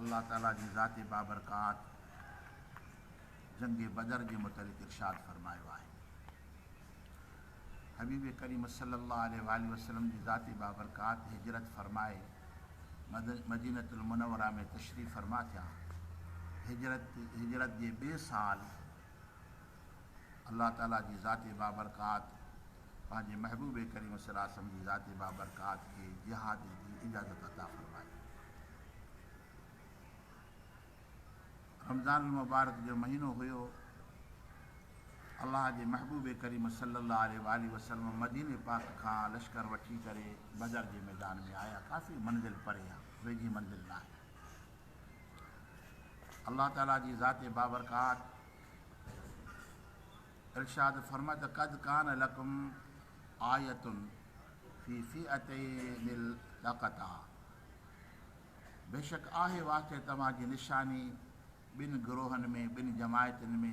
الله تعالي جي ذات بابرڪات جنگ بدر جي متعلق ارشاد فرمايو آهي، حبيب ڪريم صلي الله عليه واٰله وسلم جي ذات بابرڪات هجرت فرمائي مدينة المنوره ۾ تشريف فرما ٿيا. هجرت هجرت جي ٻئي سال الله تعاليٰ جي ذات بابرڪات پنهنجي محبوب ڪريم صلّي الله عليه وسلّم جي ذات بابرڪات کي جهاد جي اجازت عطا فرمائي. رمضان المبارڪ جو مهينو هيو. الله جي محبوب ڪريم صلّي الله عليه واٰله وسلّم مديني پاڪ کان لشڪر وٺي ڪري بدر جي ميدان ۾ آيا. ڪافي منزل پري آهي، ويجهي منزل ناهي. الله تعاليٰ جي ذات بابرڪات ارشاد فرمائي ته قد ڪان لڪم آيتن في فئتين التقتا بيشڪ آهي واقعي توهان جي نشاني ٻن گروهن ۾ ٻن جماعتن ۾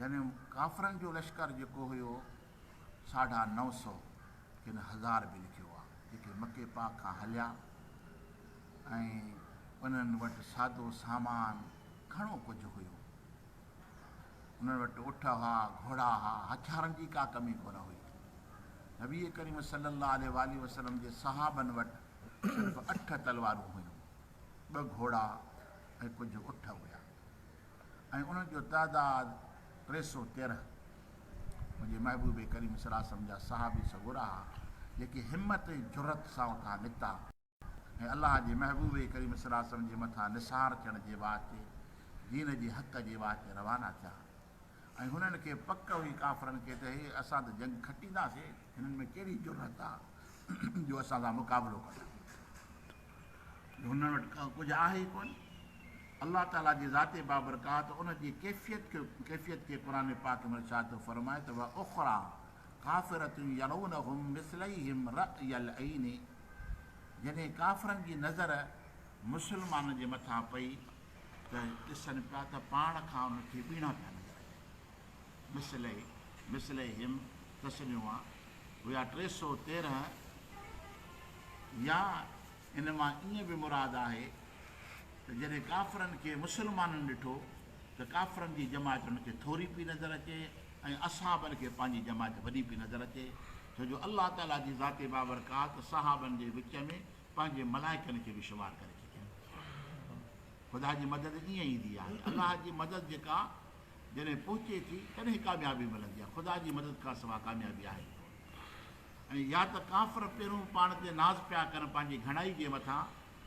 يعني ڪافرن جو لشڪر جيڪو هيو ساڍا نو سؤ ڪن هزار به لکيو آهي جيڪي مڪي پاڪ کان هليا ۽ انهن وٽ سادو سامان گهڻو ڪجهه هيو انهن وٽ اٺ هئا گهوڙا ها هٿيارن جي ڪا ڪمي ڪونه هئي نبي ڪريم صلي الله عليه وآله وسلم جي صحابن وٽ صرف اٺ تلوارون هيون ٻه گهوڙا ۽ ڪجهه اٺ هيا ۽ انهن جو تعداد ٽي سؤ تيرنهن منهنجي محبوب ڪريم صلعه وسلم جا صحابي سڳورا ها جيڪي همت ۽ جرئت سان اتان نڪتا ۽ الله جي محبوب ڪريم صلعه وسلم جي مٿان نثار ٿيڻ جي واسطي دين جي حق جي واسطي روانا ٿيا ۽ هنن کي پڪ هئي ڪافرن کي ته هي اسان ته جنگ کٽينداسين هنن ۾ ڪهڙي جرئت آ جو اسان سان مقابلو ڪن. جو هنن وٽ ڪجهه آهي ئي ڪونه. الله تعاليٰ جي ذات بابرڪات ان جي ڪيفيت کي قرآن پاڪ ۾ ارشاد ٿو فرمائي ته واخريٰ ڪافرة يرونهم مثليهم رأي العين جڏهن ڪافرن جي نظر مسلمانن جي مٿان پئي ته ڏسن پيا ته پاڻ کان انهن کي ٻيڻا پيا نظر اچن. مثله، مثليهم، تثنيوء، هيا ٽي سؤ تيرنهن يا ان مان ائين به مراد آهي ته جڏهن ڪافرن کي مسلمانن ڏٺو ته ڪافرن جي جماعت انهن کي ٿوري پئي نظر اچي ۽ اصحابن کي پنهنجي جماعت وڏي پئي نظر اچي ڇو جو الله تعاليٰ جي ذات بابرڪات صحابن جي وچ ۾ پنهنجي ملائڪن کي به شمار ڪري ڇڏيائين خدا جي مدد ائين ايندي آهي الله جي مدد جيڪا جڏهن پهچي ٿي تڏهن ئي ڪاميابي ملندي آهي خدا جي مدد کان سوا ڪاميابي آهي ئي ڪونه ۽ يا ته ڪافر پهرون پاڻ تي ناز پيا ڪن پنهنجي گهڻائي جي مٿان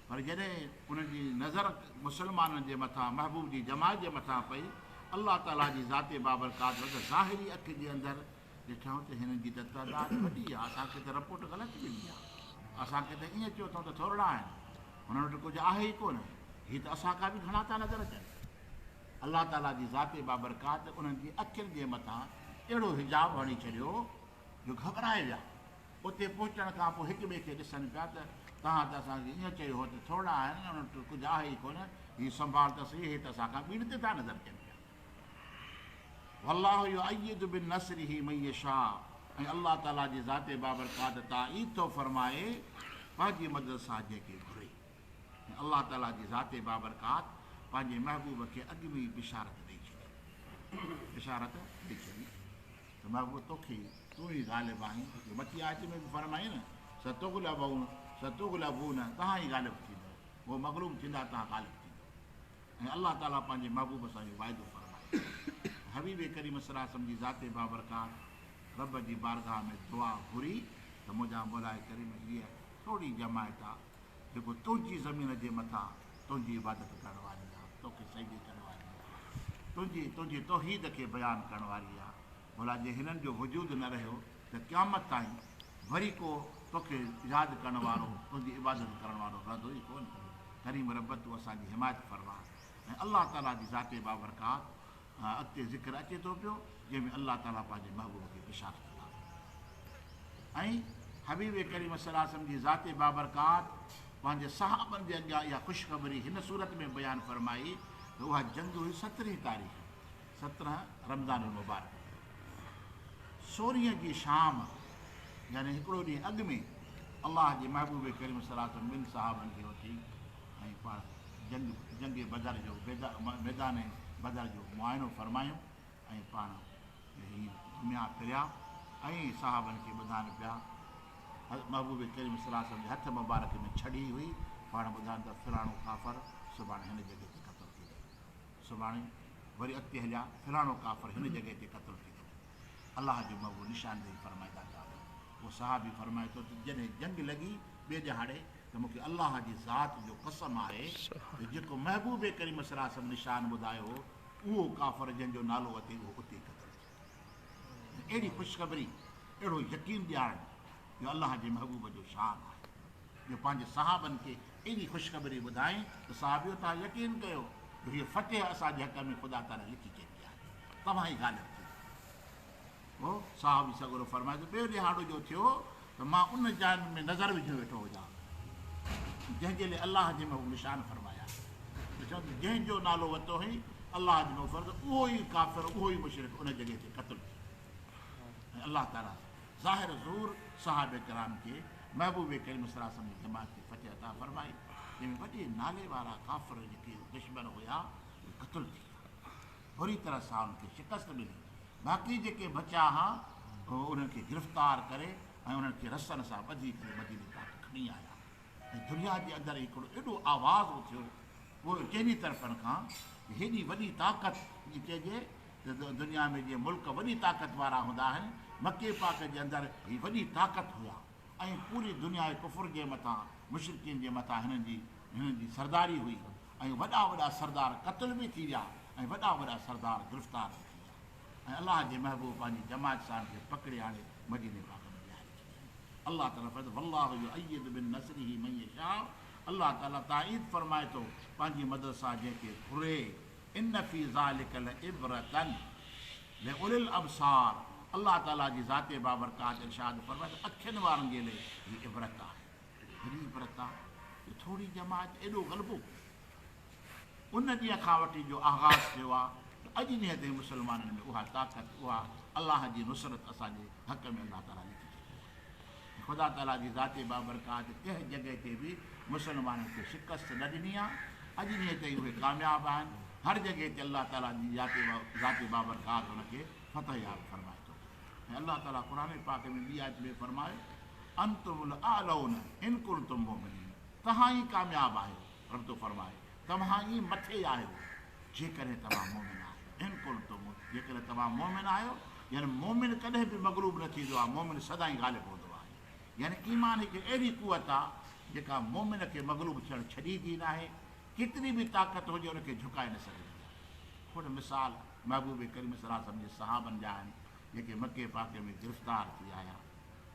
پر جڏهن انهن جي نظر مسلمانن جي مٿان محبوب جي جماعت جي مٿان پئي الله تعالي جي ذات بابرڪات وٽ ظاهري اک جي اندر ڏٺائون ته هنن جي ته تعداد وڏي آهي اسان کي ته رپورٽ غلط ملي آهي اسان کي ته ائين چيو اٿئون ته ٿورڙا آهن هنن وٽ ڪجهه آهي ئي ڪونه هي ته اسان کان به گهڻا ٿا نظر اچن الله تعاليٰ جي ذات بابرڪات انهن جي اکين جي مٿان اهڙو حجاب هڻي ڇڏيو جو گهٻرائي ويا. اتي پهچڻ کان پوء هڪ ٻئي کي ڏسن پيا ته توهان ته اسان کي ايئن چيو هو ته ٿورڙا آهن ۽ انهن وٽ ڪجهه آهي ئي ڪونه، هي سنڀال ته سهي، هي ته اسان کان ٻيڻ تي ٿا نظر ڪن پيا. والله يؤيد بنصره من يشاء ۽ الله تعاليٰ جي ذات بابرڪات تائيد ٿو فرمائي پنهنجي مدد سان جنهن کي گهري. ۽ الله تعاليٰ جي ذات بابرڪات پنهنجي محبوب کي اڳ ۾ ئي بشارت ڏئي ڇڏي بشارت ڏئي ڇڏي ته محبوب توکي تون ئي غالب آهين جو مٿي آيت ۾ به فرمائي نه ستغلبون ستغلبون توهان ئي غالب ٿيندو هو مغلوب ٿيندا توهان غالب ٿيندو ۽ الله تعاليٰ پنهنجي محبوب سان اهو واعدو فرمائي حبيب ڪريم صلي وسلم جي ذات بابرڪات رب جي بارگاهه ۾ دعا گهري ته منهنجا مولائي ڪريم هيء ٿورڙي جماعت آ جيڪو تنهنجي زمين جي مٿان تنهنجي عبادت ڪرڻ واري آ، توکي سجدي ڪرڻ واري آ، تنهنجي تنهنجي توحيد کي بيان ڪرڻ واري آ، ڀلا جي هنن جو وجود نه رهيو ته قيامت تائين وري ڪو توکي ياد ڪرڻ وارو، تنهنجي عبادت ڪرڻ وارو رهندو ئي ڪونه. ڪريم رب تون اسان جي حمايت فرما ۽ الله تعالي جي ذات بابرڪات کان اڳتي ذڪر اچي ٿو پيو جنهن ۾ الله تعالي پنهنجي محبوب کي پشان ڪندا ۽ حبيب ڪريم صلي الله عليه وسلم جي ذات بابرڪات پنهنجي صحابن جي اڳيان اها خوشخبري هن صورت ۾ بيان فرمائي ته اها جنگ هئي سترهين تاريخ سترهن رمضان المبارڪ سورهين جي شام يعني هڪڙو ڏينهن اڳ ۾ الله جي محبوب ڪريم صلي الله عليه وسلم ٻن صحابن کي وٺي ۽ پاڻ جنگ جنگ بدر جو ميدان بدر جو معائنو فرمايون ۽ پاڻ هي گهميا ڦريا ۽ صحابن کي ٻڌائن پيا محبوب ڪريم صلي الله عليه وسلم جي هٿ مبارڪ ۾ ڇڙي هئي پاڻ ٻڌائن ته فلاڻو ڪافر سڀاڻي هن جڳهه تي قتل ٿي ويو سڀاڻي وري اڳتي هليا فلاڻو ڪافر هن جڳهه تي قتل ٿي ويو الله جو مهبوب نشاندهي فرمائيندا ته آمين. اهو صحابي فرمائي ٿو ته جڏهن جنگ لڳي ٻئي ڏهاڙي ته مون کي الله جي ذات جو قسم آهي ته جيڪو محبوب ڪريم صلي الله عليه وسلم نشان ٻڌايو هو اهو ڪافر جنهن جو نالو اٿئي اهو اتي ئي قتل ٿيو ته اهڙي خوشخبري اهڙو يقين ڏيارڻ جو الله جي محبوب جو شان آهي. جو پنهنجي صحابن کي ايڏي خوشخبري ٻڌائين ته صحابيو توهان يقين ڪيو جو هيء فتح اسان جي حق ۾ خدا تعاليٰ لکي ڇڏي آهي. توهان ئي غالب ٿيندا. پوء صحابي سڳورو فرمائي ٿو، ٻيو ڏهاڙو جو ٿيو ته مان ان جانب ۾ نظر وجهيو ويٺو هجان جنهن جي لئه الله جي محبوب نشان فرمايا ته چون ته جنهن جو نالو ورتو هئين الله جي محبوب فرمايو ته اهو ئي ڪافر اهو ئي مشرڪ ان جڳهه تي قتل ٿيو ۽ الله تعاليٰ ظاهر ظهور صحابه ڪرام کي محبوب ڪريم صلي الله عليه وسلم جي جماعت کي فتح عطا فرمائي جنهن ۾ وڏي نالي وارا ڪافر جيڪي دشمن هيا اهي قتل ٿي ويا بري طرح سان انهن کي شڪست ملي باقي جيڪي بچا ها انهن کي گرفتار ڪري ۽ انهن کي رسن سان ٻڌي ڪري مديني تائين کڻي آيا ۽ درياء جي اندر هڪڙو ايڏو آواز اٿيو ڪنهن جي طرفن کان هيڏي وڏي طاقت جي چئجي دنيا ۾ جي ملڪ وڏي طاقت وارا هوندا آهن، مڪي پاڪ جي اندر هي وڏي طاقت هيا ۽ پوري دنيا ڪفر جي مٿان مشرڪين جي مٿان هنن جي هنن جي سرداري هئي ۽ وڏا وڏا سردار قتل به ٿي ويا ۽ وڏا وڏا سردار گرفتار به ٿي ويا ۽ الله جي محبوب پنهنجي جماعت سان کي پڪڙي آڻي مديني پاڪ ۾ ويهاري ڇڏيائين الله تعالي فرمائي ٿو والله يؤيد بنصره من يشاء الله تعالي تائيد فرمائي ٿو پنهنجي مدد سان جنهن کي گهري. ان في ذلک لعبرة لاولي الابصار الله تعالي جي ذات بابرڪات ارشاد فرمائي ته اکين وارن جي لئه هي عبرت آهي وڏي عبرت آهي جو ٿوري جماعت ايڏو غلبو ان ڏينهن کان وٺي جو آغاز ٿيو آهي ته اڄ ڏينهن تائين مسلمانن ۾ اها طاقت اها الله جي نصرت اسان جي حق ۾ الله تعالي لکي ڇڏي خدا تعاليٰ جي ذات بابرڪات ڪنهن جڳهه تي به مسلمانن کي شڪست نه ڏني آهي، اڄ ڏينهن تائين اهي ڪامياب آهن، هر جڳهه تي الله تعاليٰ جي ذات بابرڪات انهن کي فتح ياب فرمائي ٿو ۽ الله تعاليٰ قرآن پاڪ ۾ ٻي آيت ۾ فرمايو، انتم الاعلون ان ڪنتم مؤمنين، توهان ئي ڪامياب آهيو، رب ٿو فرمائي. توهان ئي مٿي آهيو جيڪڏهن توهان مؤمن آهيو، ان ڪنتم، جيڪڏهن توهان مؤمن آهيو، يعني مؤمن ڪڏهن به مغلوب نه ٿيندو آهي، مؤمن سدائين غالب هوندو آهي، يعني ايمان هڪ اهڙي قوت آهي جيڪا مؤمن کي مغلوب ٿيڻ ڇڏيندي ناهي، ڪيتري به طاقت هجي ان کي جهڪائي نه سگهندي آهي. کڻ مثال محبوب ڪريم صلعم جي صحابن جا آهن جيڪي مڪي پاڪي ۾ گرفتار ٿي آيا.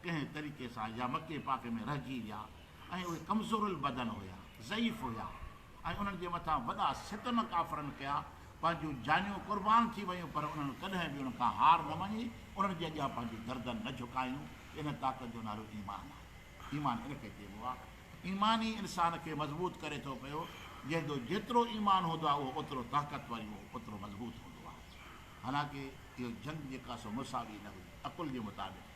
ڪنهن طريقي سان يا مڪي پاڪ ۾ رهجي ويا ۽ اهي ڪمزور البدن هيا، ضعيف هيا ۽ انهن جي مٿان وڏا ستم ڪافرن ڪيا، پنهنجون جانيون قربان ٿي ويون پر انهن ڪڏهن به انهن کان هار نه مڃي، انهن جي اڳيان پنهنجون گردن نه جهڪايون، ان طاقت جو نالو ايمان آهي. ايمان ان کي چئبو آهي. ايمان ئي انسان کي مضبوط ڪري ٿو پيو، جنهن جو جيترو ايمان هوندو آهي اهو اوترو طاقتور ۽ اهو اوترو مضبوط هوندو آهي. حالانڪه اهو جنگ جيڪا سو مساوي نه هئي، عقل جي مطابق.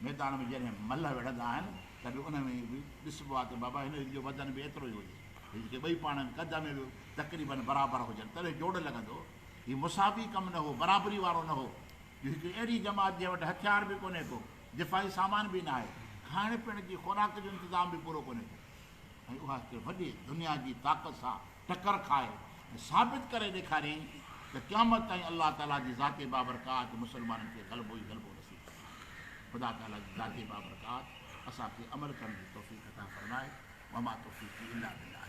ميدان ۾ جڏهن ملهه وڙهندا آهن ته به ان ۾ به ڏسبو آهي ته بابا هن جو وزن به ايترو ئي هجي ۽ جيڪي ٻئي پاڻ ۾ قد ۾ به تقريبن برابر هجن تڏهن جوڙ لڳندو. هي مساوي ڪم نه هو، برابري وارو نه هو، جو هڪڙي اهڙي جماعت جنهن وٽ هٿيار به ڪونهي ڪو، دفاعي سامان به ناهي، کائڻ پيئڻ جي خوراڪ جو انتظام به پورو ڪونهي ڪو ۽ اها هڪڙي وڏي دنيا جي طاقت سان ٽڪر کائي ۽ ثابت ڪري ڏيکاريائين ته قيامت تائين الله تعاليٰ جي ذات بابرڪات تي مسلمانن کي غلبو ئي غلبو نصيب ڪندو. خدا تعاليٰ جي ذات بابرڪات اسان کي عمل ڪرڻ جي توفيق عطا فرمائي. وما توفيقي الا بالله.